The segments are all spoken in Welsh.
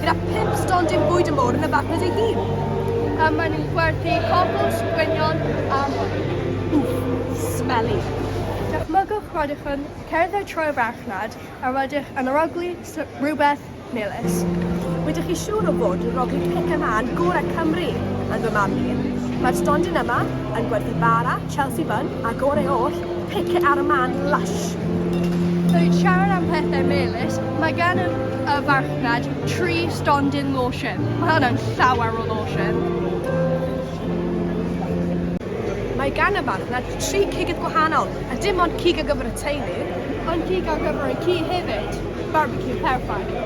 gyda phump stondin bwyd yn fawr yn y farchnad ei hun. A maen nhw'n gwerthu cocos, gwynion a mwy. Wff, smelly! Dychmygwch rydych yn cerdded trwy'r farchnad a rydych yn arogli rhywbeth melys. Rydych chi siŵr o fod yn rogli pic a mân gorau Cymru, yn fy marn i. Mae'r stondin yma yn gwerthu bara, Chelsea Bun, a gorau oll, pice ar y man lush! Rwy'n siarad am pethau melys, mae gan y y farchnad tri stondin lotion. Mae hwnna'n llawer o lotion! Mae gan y farchnad tri cigydd gwahanol, a dim ond cig ar gyfer y teulu, ond cig ar gyfer y ci hefyd! Barbecue perffaith!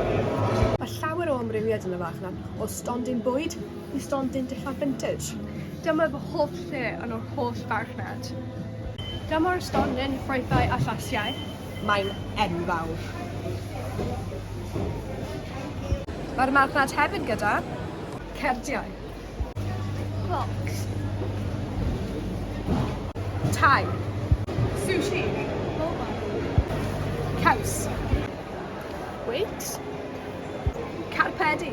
Mae llawer o amrywiad yn y farchnad, o stondin bwyd, i stondin dillad vintage. Dyma fy hoff lle yn yr holl farchnad. Dyma'r stondin ffrwythau a llasiau. Mae'n enfawr. Mae'r marchnad hefyd gyda cerdiau. Clocs. Tai. Sushi. Caws. Weight. Carpedi.